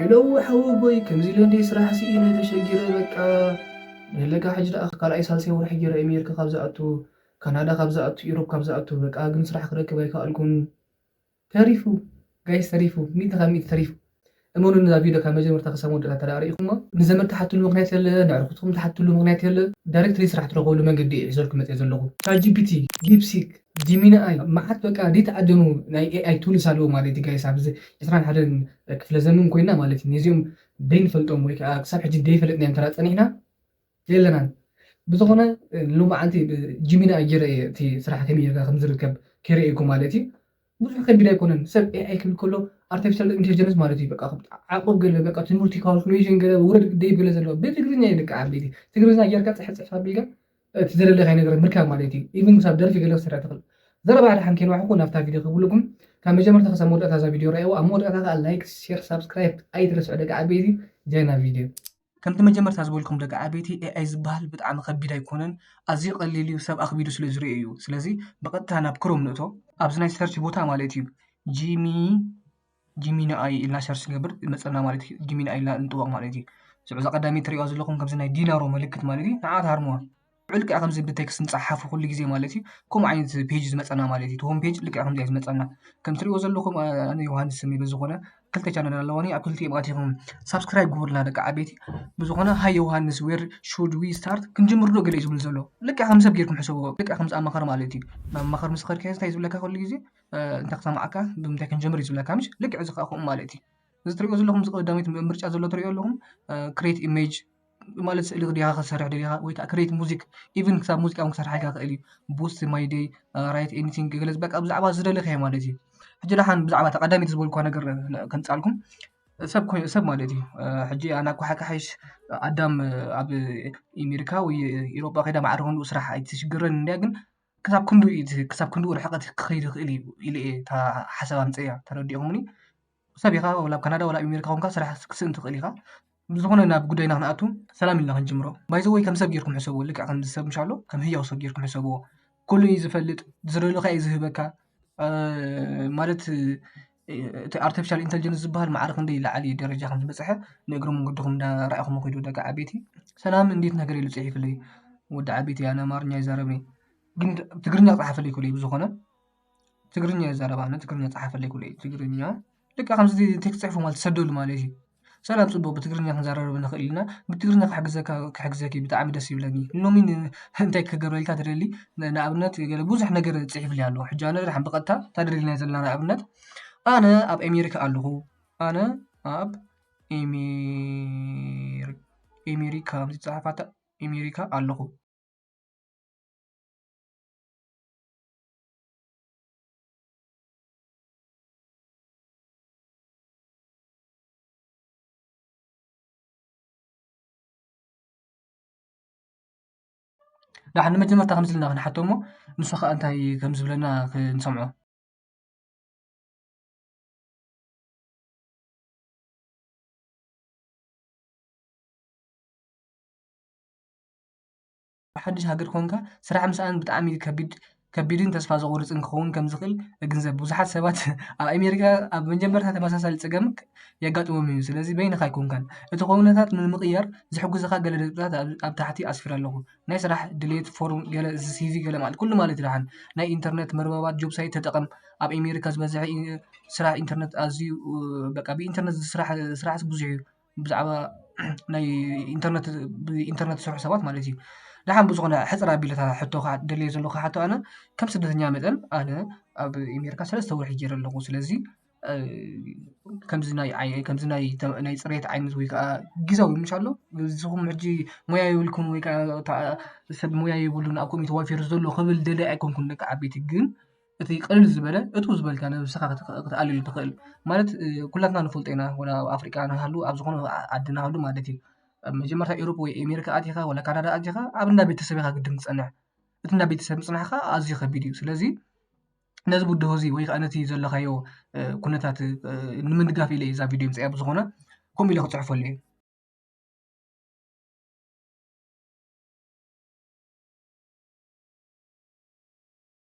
ሄሎው ሓወቦይ ከምዚ ኢለ እንድየ ስራሕ ስኢነ ተሸጊረ በቃ ንህለካ ሕጂ ደኣ ካልኣይ ሳልሳይ ወርሒ ጌረ ኤሜርካ ካብ ዝኣቱ ካናዳ ካብ ዝኣቱ ኢሮብ ካብ ዝኣቱ በቃ ግን ስራሕ ክረክብ ኣይከኣልኩን ተሪፉ ጋይስ ተሪፉ ሚእቲ ካብ ሚእቲ ተሪፉ እመኑኒ እዛ ቪድዮ ካብ መጀመርታ ክሳብ መወዳእታ እንተ ርኢኹማ ንዘመድ ትሓትሉ ምኽንያት የለ ነዕርኹትኩም ትሓትሉ ምኽንያት የለ ዳይረክትሊ ስራሕ ትረኽብሉ መንገዲ እየ ሒዘልኩም መጽየ ዘለኹ ቻትጂፒቲ ዲፕሲክ ጂሚና ኣይ ማዓት በቃ ዲተኣደኑ ናይ ኤኣይ ቱልስ ኣለዉ ማለት ዩ ጋይስ ኣብዚ ዕስራን ሓደን ክፍለ ዘመን ኮይና ማለት ዩ ነዚኦም ደይንፈልጦም ወይ ከኣ ክሳብ ሕጂ ደይፈለጥናዮም እንተ ጸኒሕና የለናን ብዝኮነ ሎማዓንቲ ብ ጂሚና ኣይ ጌረ ኢየ እቲ ስራሕ ከመይ ጌርካ ከም ዝርከብ ከይረኤኩ ማለት ዩ ብዙሕ ከቢድ ኣይኮነን ሰብ ኤኣይ ክብል ከሎ ኣርተፊሻል እንተልጀንስ ማለት ዩ በቃ ዓቆብ ገለ በቃ ትምህርቲ ካልኩሌሽን ገለ ውረድ ደይብ ገለ ዘለዎ ብትግርኛ ዩ ደቂ ዓበይቲ ትግርኛ ጌርካ ጽሕጽሕፍ ኣቢልካ እቲ ዘደለካዮ ነገር ምርካብ ማለት እዩ ኢቭን ክሳብ ደርፊ ገለ ክትሰርሕ ትኽእል ዘረባ ደሓን ከይንዋሕኩ ናብታ ቪድዮ ክብልኩም ካብ መጀመርታ ክሳብ መወዳእታ እዛ ቪድዮ ረኣይዋ ኣብ መወዳእታ ከዓ ላይክ ሼር ሳብስክራይብ ኣይትረስዑ ደቂ ዓበይቲ ጃይና ቪድዮ ከምቲ መጀመርታ ዝበልኩም ደቂ ዓበይቲ ኤኣይ ዝበሃል ብጣዕሚ ከቢድ ኣይኮነን ኣዝዩ ቀሊል እዩ ሰብ ኣኽቢዱ ስለ ዝርኢ እዩ ስለዚ ብቐጥታ ናብ ክሮም ንእቶ ኣብዚ ናይ ሰርች ቦታ ማለት እዩ ጂሚ ጂሚ ንኣይ ኢልና ሸር ስንገብር መፀና ማለት እዩ ጂሚ ንኣይ ኢልና ንጥወቕ ማለት እዩ ሽዑ እዛ ቀዳመይቲ ትሪእዋ ዘለኹም ከምዚ ናይ ዲናሮ ምልክት ማለት እዩ ንዓ ትሃርምዋ ልዑል ከዓ ከምዚ ብቴክስት ንፀሓፉ ኩሉ ግዜ ማለት እዩ ከምኡ ዓይነት ፔጅ ዝመፀና ማለት እዩ ሆም ፔጅ ልክዕ ከምዚ እዩ ዝመፀና ከም ትሪእዎ ዘለኹም ኣነ ዮሃንስ ስም እዩ ዝኾነ ክልተ ቻነል ኣለዋኒ ኣብ ክልቲኦም ኣቲኹም ሳብስክራይብ ግቡርና ደቂ ዓበይቲ ብዝኾነ ሃይ ዮሃንስ ዌር ሹድ ዊ ስታርት ክንጅምር ዶ ገለ እዩ ዝብል ዘሎ ልክዕ ከም ሰብ ጌርኩም ሕሰብዎ ልክዕ ከምዚ ኣማኸር ማለት እዩ ናብ ኣማኸር ምስ ኸድካዮ እንታይ ዝብለካ ኩሉ ግዜ እንተ ክሰማዓካ ብምንታይ ክንጀምር እዩ ዝብለካ ምሽ ልክዕ እዚ ከኣ ከምኡ ማለት እዩ እዚ ትሪእዎ ዘለኹም ቀዳመይቲ ምርጫ ዘሎ ትሪእዎ ኣለኹም ክሬት ኢሜጅ ማለት ስእሊ ድኻ ክትሰርሕ ደሊኻ ወይ ከኣ ክሬት ሙዚክ ኢቭን ክሳብ ሙዚቃ ዉን ክሰርሓልካ ይኽእል እዩ ቡስ ማይ ደይ ራይት ኤንቲንግ ገለ በቃ ብዛዕባ ዝደለኻዮ ማለት እዩ ሕጂ ደሓን ብዛዕባ እታ ቀዳመይቲ ዝበልክዋ ነገር ከምጻልኩም ሰብ ኮይኑ ሰብ ማለት እዩ ሕጂ ኣነ እኳ ሓካሕሽ ኣዳም ኣብ ኤሜሪካ ወይ ኢሮጳ ከይዳ ማዕረ ክንድኡ ስራሕ ኣይትሽግረንን እንድያ ግን ክሳብ ክንድኡ እዩ ዝህ ክሳብ ክንድኡ ርሕቐት ክኸይድ ይኽእል እዩ ኢለ እየ እታ ሓሳብ ኣምፂኣያ ተረዲእኹምኒ ሰብ ኢኻ ወላ ኣብ ካናዳ ወላ ኣብ ኣሜሪካ ኮንካ ስራሕ ክትስእን ትኽእል ኢኻ ብዝኾነ ናብ ጉዳይና ክንኣቱ ሰላም ኢልና ክንጅምሮ ባይ ዘ ወይ ከም ሰብ ጌርኩም ሕሰብዎ ልክዕ ከምዚ ሰብ ምሻ ኣሎ ከም ህያው ሰብ ጌርኩም ሕሰብዎ ኩሉ እዩ ዝፈልጥ ዝደለካ እዩ ዝህበካ እ፣ ማለት እቲ ኣርተፊሻል ኢንተልጀንስ ዝበሃል ማዕረ ክንደይ ዝለዓለ ደረጃ ከም ዝበፅሐ ንእግረ መንገድኹም እንዳርኣኹም ኺዱ ደቂ ዓበይቲ። ሰላም እንዴት ነህ ገለ ኢሉ ፅሒፉለይ ወዲ ዓበይቲ ኣነ ኣማርኛ ኣይዛረብን እየ ግን ትግርኛ ፀሓፈለይ ክብሎ እዩ ብዝኾነ ትግርኛ ይዛረብ ኣነ ትግርኛ ፀሓፈለይ ክብሎ እዩ ትግርኛ ልክዕ ከምዚ ቴክስት ፅሒፉ ማለት እዩ ዝሰደሉ ማለት እዩ። ሰላም ጽቡቅ ብትግርኛ ክንዛረብ ዶ ንክእል ኢና ብትግርኛ ክሕግዘካ ክሕግዘኪ ብጣዕሚ ደስ ይብለኒ ሎሚ እንታይ ክገብረልካ ትደሊ ንኣብነት ገለ ብዙሕ ነገር ጽሒፍሊ ኣሎ ሕጂ ኣነ ደሓን ብቀጥታ እንታይ ደሊና ዘለና ንኣብነት ኣነ ኣብ ኣሜሪካ ኣለኩ ኣነ ኣብ ኤሜሪ ኤሜሪካ ከምዚ ዝጸሓፍ ኣታ ኤሜሪካ ኣለኩ። ዳሓን ንመጀመርታ ከምዚ ኢልና ክንሓቶ እሞ ንሱ ከኣ እንታይ ከም ዝብለና ክንሰምዖ። ኣብ ሓድሽ ሃገር ኴንካ ስራሕ ምስኣን ብጣዕሚ እዩ ከቢድ ከቢድን ተስፋ ዘቑርፅን ክኸውን ከምዝኽእል እግንዘብ። ብዙሓት ሰባት ኣብ ኣሜሪካ ኣብ መጀመርታ ተመሳሳሊ ፀገም የጋጥሞም እዩ። ስለዚ በይንኻ ኣይኮንካን። እቲ ኩነታት ንምቕያር ዝሕግዙኻ ገለ ነጥብታት ኣብ ኣብ ታሕቲ ኣስፊረ ኣለኹ። ናይ ስራሕ ድሌት ፎርም፣ ገለ ሲቪ ገለ ማለት ኩሉ ማለት እዩ ደሓን። ናይ ኢንተርነት መርበባት ጆብ ሳይት ተጠቐም። ኣብ ኣሜሪካ ዝበዝሐ ስራሕ ኢንተርነት ኣዝዩ በቃ ብኢንተርነት ዝስራሕ ስራሕስ ብዙሕ እዩ። ብዛዕባ ናይ ኢንተርነት ብኢንተርነት ዝሰርሑ ሰባት ማለት እዩ። ደሓን ብዝኾነ ሕፅር ኣቢለ እታ ሕቶ ከዓ ደልየዮ ዘለኹ ሕቶ ኣነ ከም ስደተኛ መጠን ኣነ ኣብ ኣሜሪካ ሰለስተ ወርሒ ገይረ ኣለኹ። ስለዚ ከምዚ ናይ ከምዚ ናይ ናይ ፅርየት ዓይነት ወይ ከዓ ግዝያዊ ምች ኣሎ? ንስኹም ሕጂ ሞያ የብልኩምን ወይ ከዓ ሰብ ሞያ የብሉን ኣብ ከምኡ ተዋፊሩ ዘሎ ክብል ደላዪ ኣይኮንኩን ደቂ ዓበይቲ ግን እቲ ቅልል ዝበለ እትው ዝበልካ ነብስኻ ክትኣልየሉ እትኽእል ማለት ኩላትና ንፈልጦ ኢና ወላ ኣብ ኣፍሪቃ ንሃሉ ኣብ ዝኾነ ዓዲ ንሃሉ ማለት እዩ ኣብ መጀመርታ ኤሮፓ ወይ ኣሜሪካ ኣቲኻ ወላ ካናዳ ኣቲኻ ኣብ እንዳ ቤተሰብ ኢኻ ግድን ትጸንሕ እቲ እንዳ ቤተሰብ ምጽናሕ ከኣ ኣዝዩ ከቢድ እዩ ስለዚ ነዚ ብድሆ እዚ ወይ ከኣ ነቲ ዘለኻዮ ኩነታት ንምድጋፍ ኢለ እዛ ቪድዮ ምጽኣ ብዝኾነ ከምኡ ኢለ ክጽሕፈሉ እየ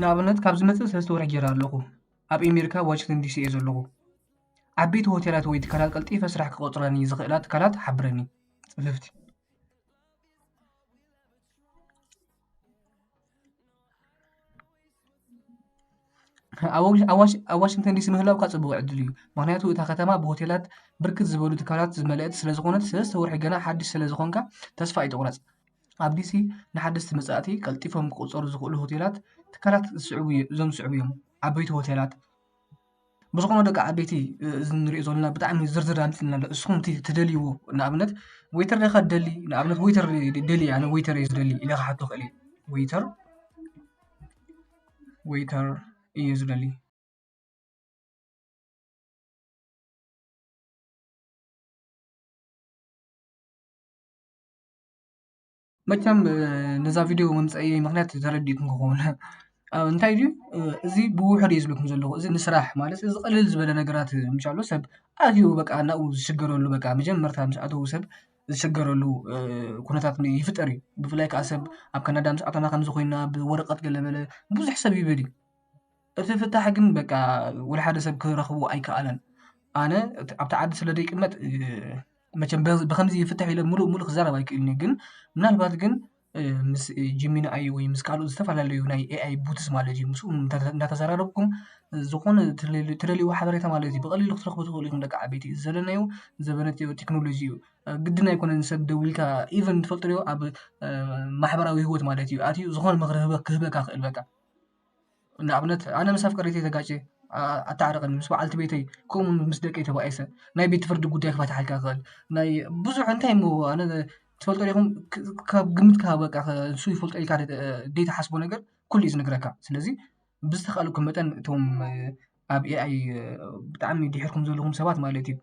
ንኣብነት ካብ ዝመፅእ ሰለስተ ወርሒ ጀይረ ኣለኹ ኣብ ኤሜሪካ ዋሽንግተን ዲሲ እየ ዘለኹ ዓበይቲ ሆቴላት ወይ ትካላት ቀልጢፈ ስራሕ ክቆፅራኒ ዝኽእላ ትካላት ሓብረኒ ፅፍፍቲ ኣብ ዋሽ- ኣብ ዋሽ- ኣብ ዋሽንግተን ዲሲ ምህላውካ ፅቡቅ ዕድል እዩ ምክንያቱ እታ ከተማ ብሆቴላት ብርክት ዝበሉ ትካላት ዝመልአት ስለዝኾነት ሰለስተ ወርሒ ገና ሓድሽ ስለዝኾንካ ተስፋ ኣይትቑረፅ ኣብ ዲሲ ንሓደስቲ መፃእቲ ቀልጢፎም ክቑፀሩ ዝኽእሉ ሆቴላት ትካላት እዞም ዝስዕቡ እዮም፣ ዓበይቲ ሆቴላት ብዝኾነ ደቂ ዓበይቲ እዚ ንሪኦ ዘለና ብጣዕሚ ዝርዝር ኣምፂልና ኣሎ እስኹም እቲ ትደልይዎ ንኣብነት ወይተር ዲኻ ትደሊ ንኣብነት ወይተር ይደሊ ኣነ ወይተር እየ ዝደሊ ኢለ ክሓቶ ይኽእል እየ ወይተር ወይተር እየ ዝደሊ መቸም ነዛ ቪድዮ ምምጸእየይ ምኽንያት ተረዲእኩም ክኸውን ኣብ እንታይ ድዩ እዚ ብውሑድ እዩ ዝብለኩም ዘለኹ እዚ ንስራሕ ማለት እዚ ቅልል ዝበለ ነገራት ምሻሉ ሰብ ኣዝዩ በቃ ናብኡ ዝሽገረሉ በቃ መጀመርታ ምስ ኣተዉ ሰብ ዝሽገረሉ ኩነታት ይፍጠር እዩ ብፍላይ ከኣ ሰብ ኣብ ካናዳ ምስ ኣተና ከምዚ ኮይና ብወረቀት ገለ መለ ብዙሕ ሰብ ይብል እዩ እቲ ፍታሕ ግን በቃ ወላ ሓደ ሰብ ክረኽቦ ኣይከኣለን ኣነ ኣብቲ ዓዲ ስለ ደይቅመጥ መቸም ብኸምዚ ይፍታሕ ኢለ ምሉእ ምሉእ ክዛረብ ኣይክእልን እየ ግን ምናልባት ግን ምስ ጂሚኒ ኣይ ወይ ምስ ካልኦት ዝተፈላለዩ ናይ ኤኣይ ቡትስ ማለት እዩ ምስኡ እንዳተዘራረብኩም ዝኾነ ትደልይዎ ሓበሬታ ማለት እዩ ብቐሊሉ ክትረኽቡ ትኽእሉ ኢኹም ደቂ ዓበይቲ እዚ ዘለናዮ ዘበነ ቴክኖሎጂ እዩ ግድን ኣይኮነን ሰብ ደዊልካ ኢቨን ትፈልጡ ዶ ኣብ ማሕበራዊ ሂወት ማለት እዩ ኣትዩ ዝኾነ ምኽሪ ክህበካ ይኽእል በቃ። ንኣብነት ኣነ ምስ ኣፍቀሪተይ ተጋጭየ ኣታዓርቀኒ ምስ በዓልቲ ቤተይ ከምኡ ውን ምስ ደቀይ ተባኢሰ ናይ ቤት ፍርዲ ጉዳይ ክፈትሓልካ ይክእል ናይ ብዙሕ እንታይ እሞ ኣነ ትፈልጡ ዲኩም ካብ ግምት ክሃብ በቃ ንሱ ይፈልጦ ኢልካ ዘይትሓስቦ ነገር ኩሉ እዩ ዝንግረካ ስለዚ ብዝተካእለኩም መጠን እቶም ኣብ ኤኣይ ብጣዕሚ ዲሒርኩም ዘለኩም ሰባት ማለት እዩ።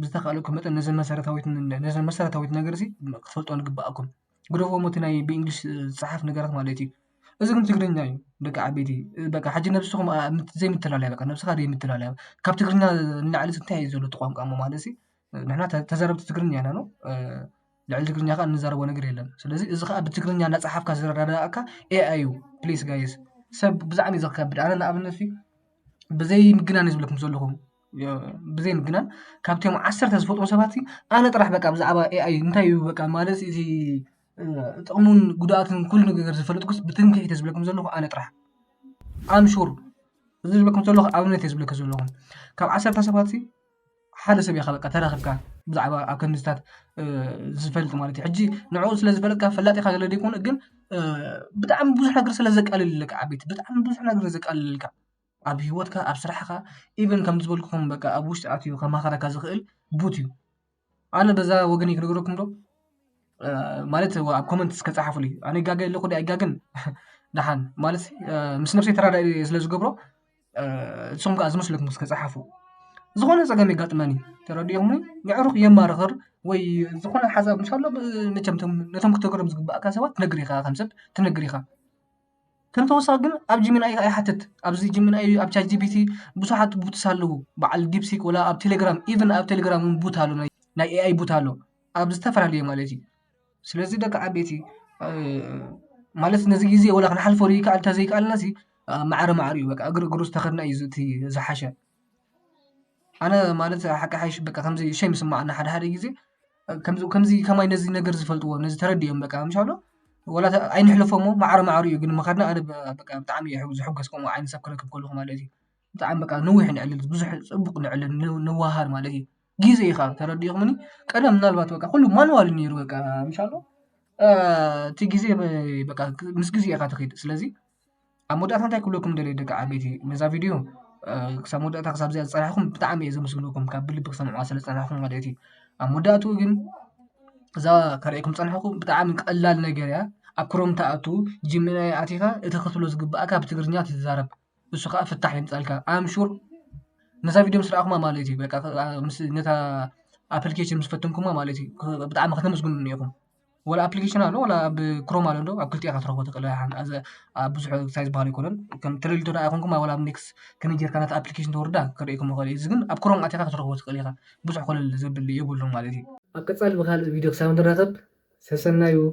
ብዝተካእለኩ መጠን ነዘን መሰረታዊት ነዘን መሰረታዊት ነገር እዚ ክትፈልጥወን ይግባእ ኣኩም ግደፍዎ እሞ እቲ ናይ ብእንግሊሽ ዝጸሓፍ ነገራት ማለት እዩ እዚ ግን ትግርኛ እዩ ደቂ ዓበይቲ በቃ ሕጂ ነብስኩም ዘይምትላልያ በቃ ነብስካ ዘይምትላልያ ካብ ትግርኛ ንላዕሊ እዚ እንታይ እዩ ዘሎ እቲ ቋንቋ እሞ ማለት እዚ ንሕና ተዛረብቲ ትግርኛ ኢና ኖእ ልዕሊ ትግርኛ ከኣ እንዛረቦ ነገር የለን ስለዚ እዚ ከኣ ብትግርኛ እናጸሓፍካ ዝረዳድኣካ ኤኣይ እዩ ፕሊስ ጋይስ ሰብ ብዛዕሚ እዩ ዘከብድ ኣነ ንኣብነት እዩ ብዘይ ምግናን እዩ ዝብለኩም ዘለኩ። ብዘይ ምግናን ካብቶም ዓሰርተ ዝፈትዎም ሰባት ኣነ ጥራሕ በቃ ብዛዕባ ኤኣይ እንታይ እዩ በቃ ማለት እዚ ጥቕሙን ጉድኣቱን ኩሉ ነገር ዝፈልጥኩስ ብትምክሕቲ እየ ዝብለኩም ዘለኹ ኣነ ጥራሕ ኣም ሹር እዚ ዝብለኩም ዘለኹ ኣብነት እየ ዝብለኩም ዘለኹ ካብ ዓሰርተ ሰባት ሓደ ሰብ ኢኻ በቃ ተረኺብካ ብዛዕባ ኣብ ከምዚታት ዝፈልጥ ማለት እዩ ሕጂ ንዕኡ ስለ ዝፈለጥካ ፈላጥ ኢኻ ማለት ዘይኮነ ግን ብጣዕሚ ብዙሕ ነገር ስለ ዘቃልለልካ ዓበይቲ ብጣዕሚ ብዙሕ ነገር እዩ ዘቃልለልካ። ኣብ ሂወትካ ኣብ ስራሕካ ኢቨን ከምዚ ዝበልኩኹም በቃ ኣብ ውሽጢ ኣትዩ ከማኽረካ ዝኽእል ቡት እዩ። ኣነ በዛ ወገነይ ክነግረኩም ዶ ማለት ኣብ ኮመንት እስከ ጸሓፉለይ ኣነ ይጋገ ኣለኹ ድየ ኣይጋገን ደሓን ማለት ምስ ነብሰይ ተራዳኢ ስለ ዝገብሮ ንስኹም ከዓ ዝመስለኩም እስከ ጸሓፉ። ዝኾነ ጸገም የጋጥመኒ ተረዲኦምኒ የዕሩኽ የማርኽር ወይ ዝኾነ ሓሳብ ምስ ኣሎ መቸም ነቶም ክተግሮም ዝግብኣካ ሰባት ትነግር ኢኻ ከም ሰብ ትነግር ኢኻ። ከም ተወሳኺ ግን ኣብ ጂሚናይ ኣይሓትት ኣብዚ ጂሚናይ ኣብ ቻት ጂቢቲ ብዙሓት ቡትስ ኣለዉ በዓል ዲፕሲክ ወላ ኣብ ቴሌግራም ኢቨን ኣብ ቴሌግራም እውን ቡት ኣሎ ናይ ናይ ኤኣይ ቡት ኣሎ ኣብ ዝተፈላለዩ ማለት እዩ ስለዚ ደቂ ዓበይቲ እ፣ ማለት ነዚ ግዜ ወላ ክንሓልፎ ይከኣል እንተዘይከኣልና ሲ ማዕረ ማዕሪኡ በቃ እግሪ እግሩ ዝተኸድና እዩ እቲ ዝሓሸ ኣነ ማለት ሓቂ ሓይሽ በቃ ኸምዚ ሼም ይስመዓኒ ሓደ ሓደ ግዜ ከምዚ ከምዚ ከማይ ነዚ ነገር ዝፈልጥዎ ነዚ ተረዲኦም በቃ ምሽ በሃሎ ወላ እተ ኣይንሕለፎ እሞ መዓረ መዓሩ እዩ ግን ምኻድና ኣነ በቃ ብጣዕሚ እየ ሕጉስ ዝሕጎስ ከምኡ ዓይነት ሰብ ክረክብ ከለኹ ማለት እዩ ብጣዕሚ በቃ ንዊሕ ንዕልል ብዙሕ ጽቡቕ ንዕልል ንዋሃሃድ ማለት እዩ ጊዘ እዩ ኻኣ ተረዲእክምኒ ቀደም ምናልባት በቃ ኩሉ ማንዋል እዩ ኔሩ በቃ ምሽ በሃሎ እቲ ግዜ በቃ ምስ ግዜ ኢኻ ትኺድ ስለዚ ኣብ መወዳእታ እንታይ ክብለኩም ደልየ ደቂ ዓበይቲ ነዛ ቪድዮ ክሳብ መወዳእታ ክሳብ እዚኣ ዝፀናሕኹም ብጣዕሚ እየ ዘመስግነኩም ካብ ብልቢ ክሰምዕዋ ስለ ዝፀናሕኹም ማለት እዩ ኣብ መወዳእትኡ ግን እዛ ከርእየኩም ዝፀናሕኹ ብጣዕሚ ቀላል ነገር እያ ኣብ ክሮም ትኣቱ ጂሚናይ ኣቲኻ እቲ ክትብሎ ዝግባእካ ብትግርኛ ትዛረብ እሱ ከዓ ፍታሕ የምፃልካ ኣምሹር ነዛ ቪድዮ ምስ ረኣኹማ ማለት እዩ በቃ ምስ ነታ ኣፕሊኬሽን ምስ ፈተንኩማ ማለት እዩ ብጣዕሚ ከተመስግኑኒ ኢኹም ዋላ ኣፕሊኬሽን ኣሎ ዋላ ኣብ ክሮም ኣሎ ዶ ኣብ ክልቲኡ ኢኻ ክትረኽቦ ትኽእል ኣዚ ኣብ ብዙሕ ታይ ዝበሃል ኣይኮነን ከም ትደልዩ እንተ ኾይንኩም ዋላ ኣብ ኔክስ ከመይ ጌርካ ነታ ኣፕሊኬሽን ተውርዳ ከርእየኩም ይኽእል እዩ እዚ ግን ኣብ ክሮም ኣቲኻ ክትረኽቦ ትኽእል ኢኻ ብዙሕ ኮለል ዘብል የብሉን ማለት እዩ። ኣብ ቀጻሊ ብኻልእ ቪድዮ ክሳብ ንራኸብ ሰሰናዩ!